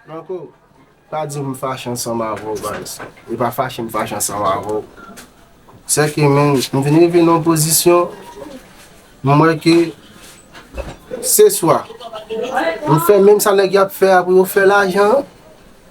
Marco, pa di m fache ansanm avè w guys. E pa fache m fache ansanm avè w. Se ke men, m vin rive nan pozisyon, m wè ke se swa m fè menm sa nèg y ap fè a pou yo fè lajan an,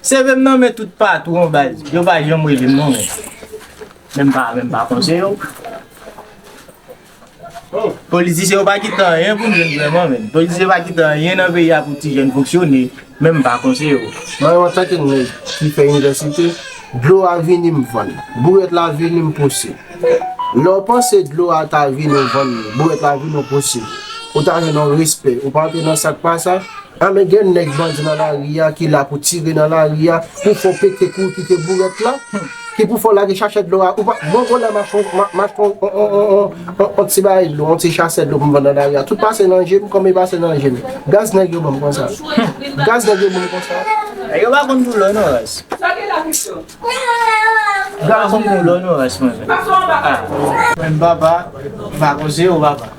Seve m nan men tout patou an baz, yo pa janm rele m non men. Men m pa men m pa konn se yo. Politisyen yo pa kite anyen pou jèn vreman men. Politisyen pa kite anyen nan peyi a pou ti jèn fonksyone, men m pa konn se yo. Mwen an tanke nèg ki fè inivèsite, dlo a vini m vann, bourèt la vini m pouse. Lè w panse dlo a ta vini w vann, bourèt la vini w pouse, ou ta jwenn yon respè, ou pa antre nan sa k pa sa. Anmè gen nèg bandi nan lari a ki la pou tire nan lari a pou fè w pete kou w kite bourèt la ki pou fè w lage chachè dlo a ou pa bon bon la m achte m achte on on ti bagay dlo on ti chasè dlo pou m vann nan lari a tout pase nan je m konbyen pase nan je m gaz nèg yo ban m konsa gaz nèg yo ban m konsa nèg yo pa konn boulò non raz yo pa konn boulò non raz mwen menm papa m pa koze w papa.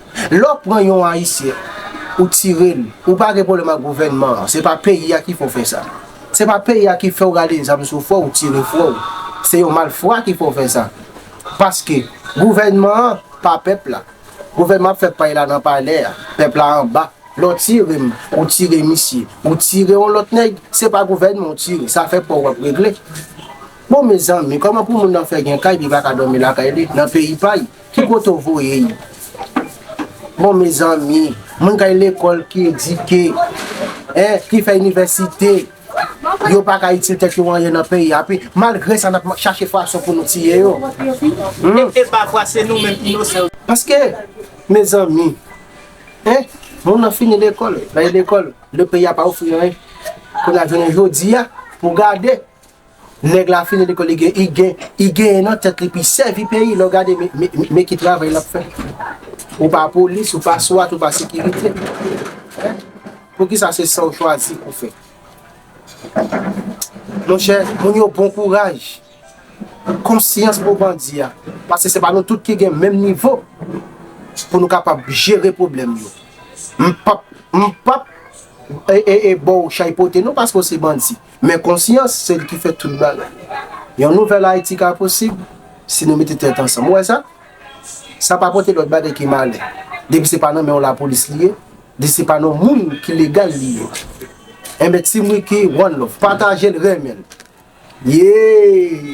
Lè w pran yon ayisyen ou tire l ou pa gen pwoblèm ak gouvènman an se pa peyi a ki fè w fè sa se pa peyi a ki fè w rale zam sou frè w ou tire frè w se yon malfra ki fè w fè sa paske gouvènman an pa pèp la gouvènman an ap fè pay la nan palè a pèp la anba lè w tire m ou tire misye ou tire yon lòt nèg se pa gouvènman ou tire sa fè pa w wap regle bon mezanmi kòman pou moun nan fè gen kay li pa ka dòmi lakay li nan peyi pa l Ki kote w voye yo? Bon mezanmi, moun k al lekòl, ki edike, ki fè inivèsite, yo pa ka itil tèt yo anyen nan peyi a. Epi, malgre sa, n ap chache fason pou nou tiye yo. E pafwa se nou menm inosan yo. Paske, mezanmi, moun nan fini lekòl, l al lekòl, le peyi a pa ofri anyen. Kounye a, jounen jodi a, pou w gade. Neg la fini lekol li gen I genyen nan tet li pi sevi peyi lè w gade me ki travay lap fe ou pa polis ou pa swat ou pa sekirite poukisa se sa w chwazi pou fe mon chè moun yo bon kouraj konsyans pou bandi a pase se pa nou tout ki gen menm nivo pou nou kapab jere problem yo m pap m pap e e e bon chay pote nou paske w se bandi Men konsyans, se li ki fè tout bagay. Yon nouvèl Ayiti ka posib, si nou mete tèt ansanm. Ou wè sa? Sa pa pote lòt bagay ke malè. Depi se pa nan men yon lapolis li ye, depi se pa nan yon moun ki legal li ye. Enben, Team Ricky, one love. Pataje l, renmen l. Yee!